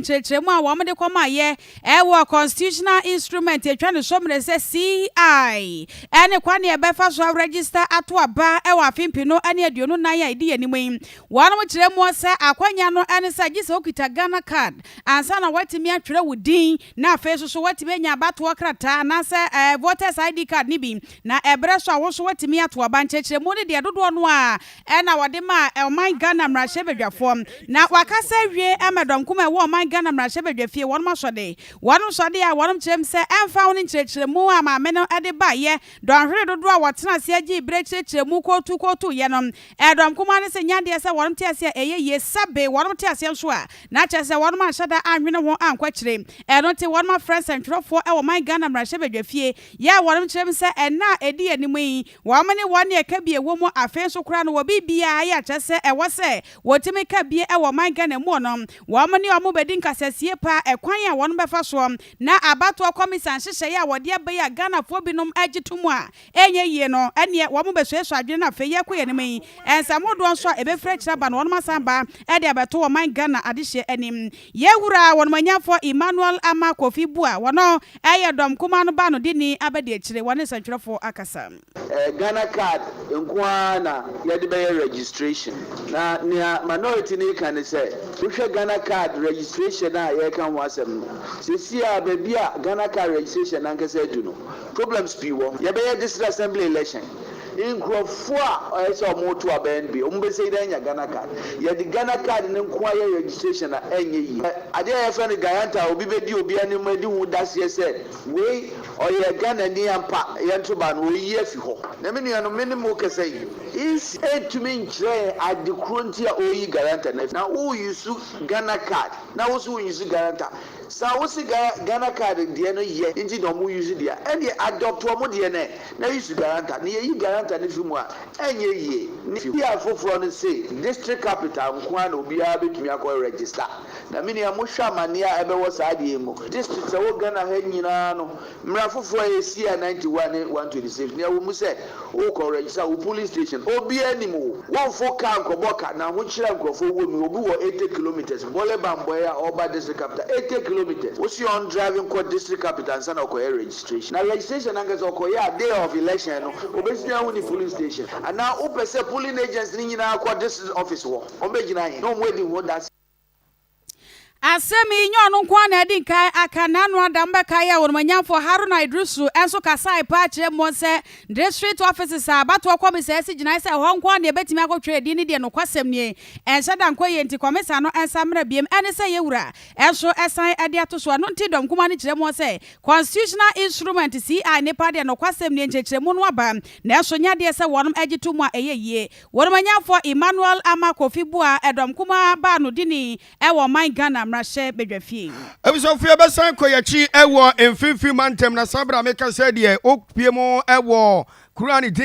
nkyerɛkyerɛmu a wɔde kɔmaeɛ wɔ Constitutional Instrument a ɛtwa ne so mmerɛ sɛ CI ne kwan a yɛbɛfa so aregista ato aba wɔ afe mpenu ne aduonu nan a ɛdi yɛn anim yi. Wɔnom kyerɛ mu sɛ akwanya no ne sɛ gye sɛ wokita Ghana card ansa na woatumi atwerɛ wo din na afei nso so woatumi anya abatoɔ krataa anaasɛ Voters ID card no bi na ɛberɛ so a wo nso woatumi ato aba. Nkyerɛkyerɛmu no deɛ dodoɔ no ara na wɔde maa ɔman Ghana mmarahyɛbadwafoɔ na wɔaka sɛ awie ama dɔnkum a ɛwɔ ɔman Ghana mmarahyɛbadwafie wɔnom asɔde wɔnom sɔde a wɔnom kyerɛ mu sɛ ɛmfa ho ne nkyerɛkyerɛmu a maame no de baeɛ dɔnhwere dodoɔ a wɔtena aseɛ gyee berɛ kyerɛkyerɛ mu kootu kootuuiɛ no ɛdɔm kumaa no sɛ nyɛ adeɛ sɛ wɔnom te aseɛ a ɛyɛ yie sɛbe wɔnom te aseɛ nso a na kyerɛ sɛ wɔnom anhyɛ da anwene ho ankɔ akyire ɛno nti wɔnom afrɛ nsɛntwerɛfoɔ wɔ ɔman Ghana mmarahyɛbadwafie yɛ a wɔnom kyerɛ mu sɛ ɛnna a ɛdi anim yi Wɔamene wɔn ne ɛka bi ɛwɔ mu, afei nso koraa no wɔ biribiara a ɛyɛ akyerɛ sɛ ɛwɔ sɛ wɔtumi ka bi wɔ ɔman Ghana mu no, wɔn ne wɔn bɛdi nkasasie pa ara ɛkwan a wɔn bɛfa soɔ na abatoɔ kɔmisa nhyehyɛeɛ a wɔde aba yi a Ghanafoɔ binom gye to mu a ɛnyɛ yie no ɛneɛ wɔn bɛsuasua adwene no afei yɛrekɔ yɛn anim yi nsɛm hodoɔ nso a ɛbɛfiri akyire aba no wɔn asan aba de abɛto ɔman Ghana adehyeɛ anim. Yɛ Wura Wɔnumanyamfoɔ Emmanuel Ama Kofi Bua wɔn ɔ yɛ dɔm kumaa no ba no de ni aba di akyire wɔne nsɛntwerɛfoɔ akasa. Ɛyɛ Ghana card nko ara na yɛde bɛyɛ registration. Na nea Minority no reka ne sɛ, wohwɛ Ghana card registration a yɛreka ho asɛm no, seesei ara baabi a Ghana card registration no ankasa adu no, problems pii wɔ hɔ. Yɛbɛyɛ district assembly election. Nkurɔfoɔ a ɔyɛ sɛ ɔmo to abɛn deɛ ɔmo bɛsei dɛn anya Ghana card? Yɛde Ghana card no nko ara yɛ registration a ɛnyɛ yie. Hwɛ adeɛ a yɛfrɛ no Gayanta a obi bɛdi obi anim adi ho daseɛ sɛ wei ɔyɛ Ghanani ampa yɛnto ba no oyi afi hɔ. Na me nuanom me ne mo rekasa yi ec ntumi nkyerɛ yɛn ade korɔ nti a ɔreyi Gayanta no afi hɔ. Na wo use Ghana card na wo nso wo use Gayanta Sa wo se ga Ghana card deɛ no yɛ nti na ɔmo use deɛ a ɛndeɛ adopt ɔmo deɛ no ɛ na use guarantor na yɛyi guarantor no firi mu a ɛnyɛ yie ne fie a foforɔ no se district capital nkoaa na obiara bɛtumi akɔ register na menua mohwɛ amaneɛ a ɛbɛwɔ saa adeɛ yi mu district ɛwɔ Ghana ha nyinaa no Mmara foforɔ a ɛsii a 91 ne 126 nea wɔ mu sɛ wokɔ rɛgisa wo polling station obiara anim wo wofo car nkɔbɔ ka na ahokyere a nkurɔfoɔ wɔ mu obi wɔ 80 kilometres bɔle bambɔɛ a ɔreba district capital 80 kilometres wose ɔn drive nkɔ district capital ansa na ɔkɔyɛ registration na registration ankasa ɔkɔyɛ a day of election no obɛtumi ahu ne polling station anaa wopɛ sɛ polling agents no nyinaa kɔ district office hɔ wɔn bɛgyina he na wɔn adi ho adanseɛ. Asɛm yi nyɛ ɔno nko ara na adi nkan aka n'ano ada mbɛka yɛ wɔn manyamfoɔ Haruna Iddrisu nso kasae paa kyerɛ mu sɛ district offices a abatoɔ kɔmisa asi gyinae sɛ ɛhɔ nko ara na yɛbɛtumi akɔtwerɛ edin no deɛ nokwasɛm nie ɛnhyɛ da nkɔ yie nti kɔmisa no nsa mmra biem ɛne sɛ yɛwura nso san de ato so ɛno nti dɔm kumaa no kyerɛ mu sɛ constitutional instrument CI nipa deɛ nokwasɛm nie nkyerɛkyerɛmu no aba nanso nyɛ adeɛ sɛ wɔnom gye to mu a ɛyɛ yie Wɔn manyamfoɔ Emmanuel Ama Kofi Bua ɛdɔm kumaa baa no dini ɛwɔ ɔman Ghana mmarahyɛ badwa fie. Abusuafoɔ bɛsan kɔ yɛn akyi ɛwɔ mfimfini mantam na saa berɛ a meka sɛ deɛ ɔpue mu ɛwɔ kuro a ne din ne.